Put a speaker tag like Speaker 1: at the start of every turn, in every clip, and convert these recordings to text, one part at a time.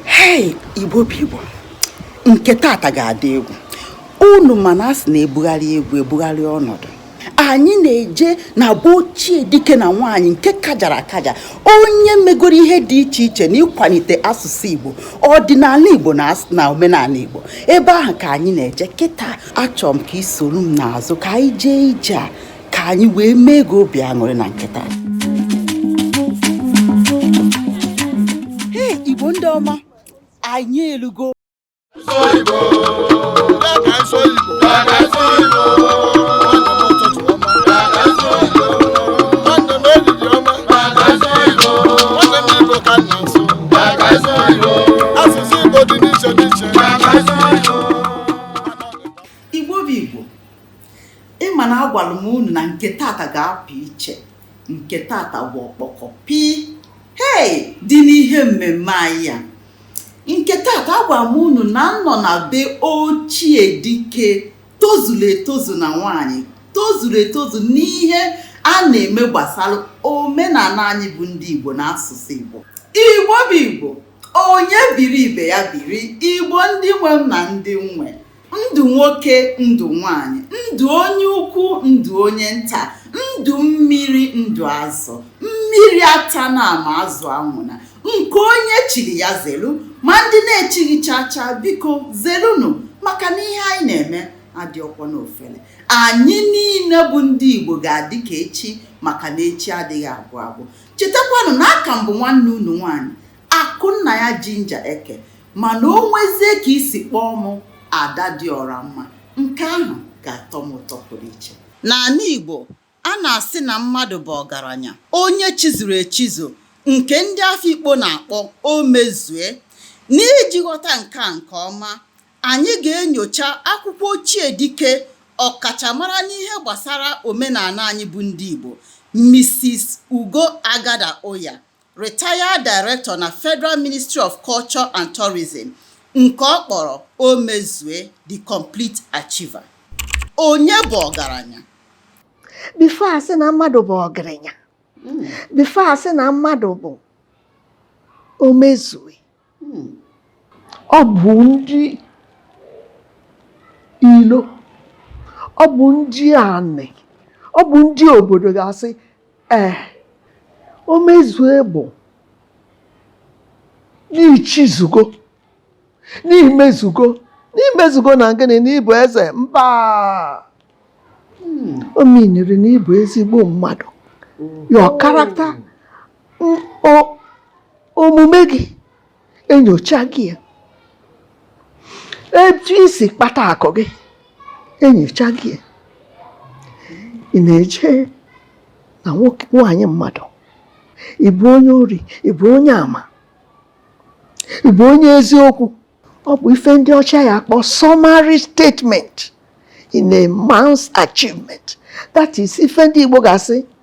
Speaker 1: hei igbo bụ igbo nke tata ga-adị egwu unu ma na a sị na e bugharịa egwu e bugharịa ọnọdụ anyị na-eje na be ochie dike na nwaanyị nke kajara akaja onye megoro ihe dị iche iche na ịkwalite asụsụ igbo ọdịnala igbo na omenala igbo ebe ahụ ka anyị na-eje kịta achọrọ m ka i soro m n'azụ ka anyị jee ije a ka anyị wee mee gị obi aṅụrị na nke taa hei igbo ndị ọma anyị elugo ị ma na agwara m unu na nke tata ga-apụ iche nke tata bụ ọkpọkọ pii hei dị n'ihe mmemme anyị a nke tata agwara m unu na m nọ na be ochie dike tozuru etozu na nwaanyị tozuru etozu n'ihe a na-eme gbasara omenala anyị bụ ndị igbo na asụsụ igbo igbo bụ igbo onye biri ibe ya biri igbo ndị nwe m na ndị nwe ndụ nwoke ndụ nwanyị ndụ onye ukwu ndụ onye nta ndụ mmiri ndụ azụ mmiri atana ma azụ anwụna nke onye chiri ya zelu ma ndị na-echighị chacha biko zelunu maka na ihe anyị na-eme adịrọkwọ n'ofele anyị niile bụ ndị igbo ga-adị ka echi maka na echi adịghị agwụ agwụ chetakwanụ na aka m bụ nwanne unu nwaanyị Akụnnaya Ginger Eke mana o nwezie ka i si kpọọ mụ Ada dị ọra mma, nke ahụ ga-atọ m ụtọ pụrụ iche. N'ala Igbo, a na-asị na mmadụ bụ ọgaranya onye chizuru echizu nke ndị Afikpo na-akpọ Omezue. N'iji ghọta nke a nke ọma, anyị ga-enyocha akwụkwọ ochie dike ọkachamara n'ihe gbasara omenala anyị bụ ndị Igbo, Misis Ugo Agada Uyah retired director na Federal Ministry of Culture and Tourism nke ọ kpọrọ omezue the complete achiever onye bụ
Speaker 2: ọgaranya before a sị na mmadụ bụ ọgaranya before a sị na mmadụ bụ omezue Hmm. ọ bụ ndị ilo ọ bụ ndị anị ọ bụ ndị obodo ga-asị ee omezue bụ na i chizugo na i mezugo na i mezugo na gịnị n'ịbụ eze mba o miniri na ịbụ ezigbo mmadụ your character omume gị enyocha gị ya etu i si kpata akụ gị enyocha gị ya ị na-eje na nwaanyị mmadụ ị bụrụ onye ori ị bụrụ onye ama ị bụrụ onye eziokwu ọ bụ ife ndị ọcha ya-akpọ summary statement in a man's achievement that is ife ndị Igbo ga-asị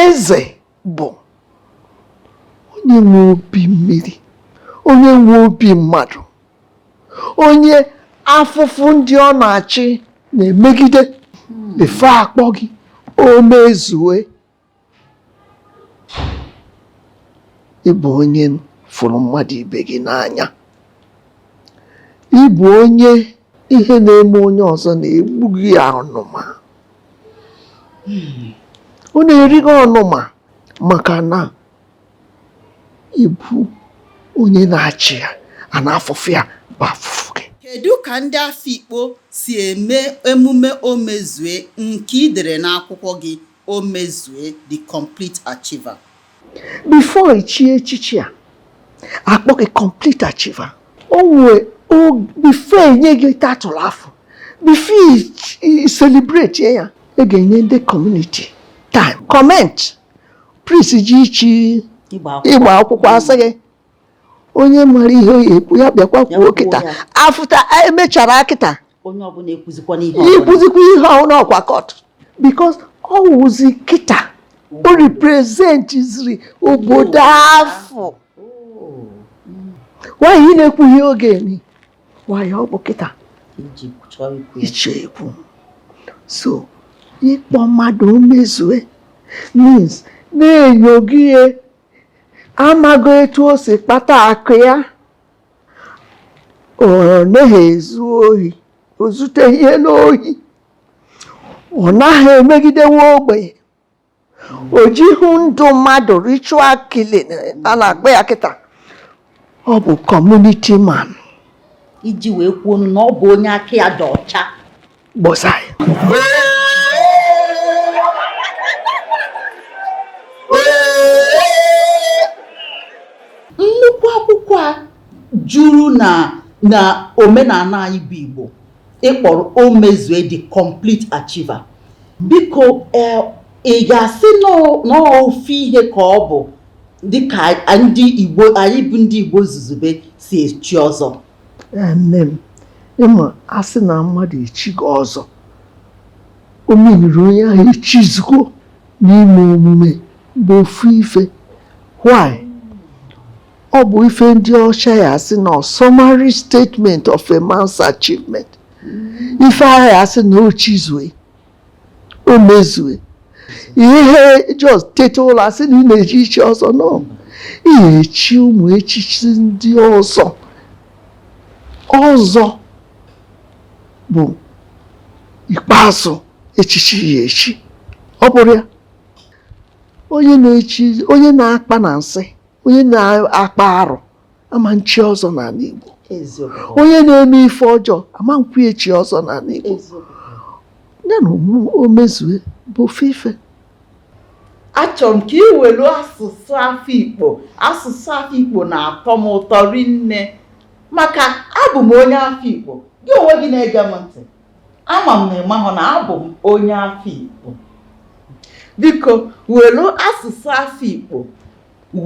Speaker 2: eze bụ onye nwe obi mmiri onye nwe obi mmadụ onye afụfụ ndị ọ na-achị na-emegide efe akpọ gị omezue ị bụ onye fụrụ mmadụ ibe gị n'anya ị bụ onye ihe na-eme onye ọzọ na-egbu gị ọnụma ọ na-eri gị ọnụma maka na ị bụ onye na-achị ya a na afụfụ ya bụ afụfụ gị kedu ka
Speaker 1: ndị Afikpo si eme emume omezue nke i dere n'akwụkwọ gị omezue the complete achiever
Speaker 2: before i chie echichi a a kpọọ gị complete achiever before e nye gị title afụ before i celebrate ya e ga-enye ndị community time comment priest ji ichi ịgba akwụkwọ a sị gị onye mara ihe ọ ya-ekwu ya bịakwa kwuo kịta after e mechara
Speaker 1: kịta i kwuzikwa ihe ọhụrụ
Speaker 2: ọkwa court because ọ wụzi kịta o representiziri obodo afụ why ị na-ekwughị oge ni ọ bụ kịta iche ekwu so ịkpọ mmadụ omezue means na enyo gị ya a mago etu o si kpata akụ ya ọ naghị ezu ohi o zuteghị ihe n'ohi ọ naghị emegide nwa ogbenye o jighị ndụ mmadụ ritual killing a na-akpọ ya kịta ọ bụ kọmuniti man
Speaker 1: iji wee kwuo ọnụ na ọ bụ onye aka ya dị ọcha gbasara nnukwu akwụkwọ a juru na omenala anyị bụ igbo ị kpọrọ omezue the complete achiever biko eh, ị ga-asị na ọ- na ọ ofu ihe ka ọ bụ dịka ndị Igbo anyị bụ ndị Igbo zuzube si echi ọzọ ee nne
Speaker 2: m ịma asị na mmadụ echigo ọzọ o meriri onye ahụ echizugo n'ime omume bụ ofu ife why ọ bụ ife ndị ọcha ya asị na summary statement of a man's achievement ife ahụ ya asị na o chizue o mezue ihe just teta ụla sị na ị na-eje ichi ọzọ no ị ya-echi ụmụ echichi ndị ọzọ ọzọ bụ ikpeazụ echichi ya echi ọ bụrụ ya onye onye na-akpa na nsị onye na-akpa arụ ama nchi ọzọ n'ala Igbo onye na-eme ife ọjọọ ama nkwu echi ọzọ n'ala Igbo ya na Omezue bụ ofu ife
Speaker 1: achọrọ m ka ị welu asụsụ Afikpo asụsụ Afikpo na-atọ m ụtọ rinne maka abụ m onye Afikpo gị onwe gị na-ege m ntị ama m na ịmahụ na abụ m onye Afikpo biko welu asụsụ Afikpo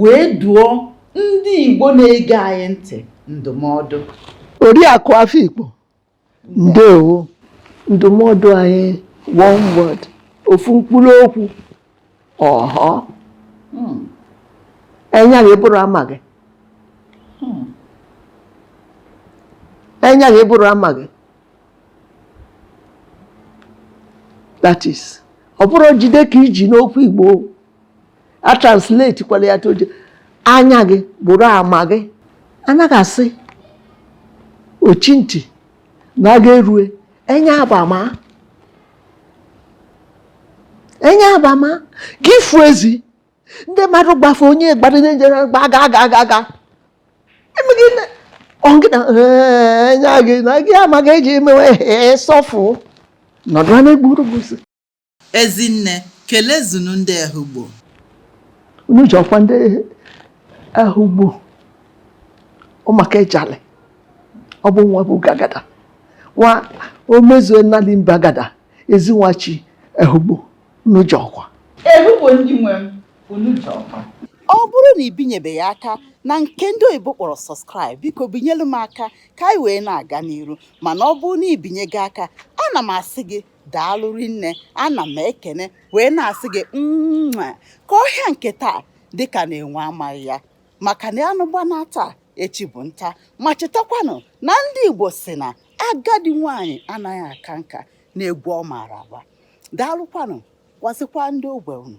Speaker 1: wee dụọ ndị Igbo na-ege anyị ntị ndụmọdụ Oriakụ
Speaker 2: Afikpo ndewo ndụmọdụ anyị one word ofu mkpụrụ okwu ọhọ hmm. enya gị bụrụ ama gị hmm. enya gị bụrụ ama gị that is ọ bụrụ jide ka iji n'okwu Igbo a translate kwala ya toje anya gị bụrụ ama gị anaghị asị ochi ntị na agha erue enya abama enya abama gị ị fụ ezi ndị mmadụ gbafe onye gbara ndị njere gba aga aga aga aga emeghị na ọngị na enya gị na gị amaghị eji emewe sọfụ nọdụ na-egburu gị
Speaker 1: Ezinne, kelezunu ndị
Speaker 2: Ehugbo. Unu jọkwa ndị Ehugbo ọmaka ejalị ọ bụ nwa bụ Agada nwa Omezue Nnali Mbe Agada Ezi Nwachi Ehugbo unu jọkwa. Ehugbo
Speaker 1: ndị nwe m unu jọkwa. Ọ bụrụ na ị binyebeghị aka na nke ndị oyibo kpọrọ subscribe biko binyelu m aka ka anyị wee na-aga n'iru mana ọ bụrụ na ibinyego aka ana m asị gị daalụ rinne ana m ekene wee na-asị gị mma ka ọhịa nke taa dịka na enwe amaghị ya maka na anụ gbanaa taa echi bụ nta ma chetakwanụ na ndị Igbo si na agadi nwanyị anaghị aka nka n'egwu ọ maara agba daalụkwanụ gwazikwa ndị ogbe unu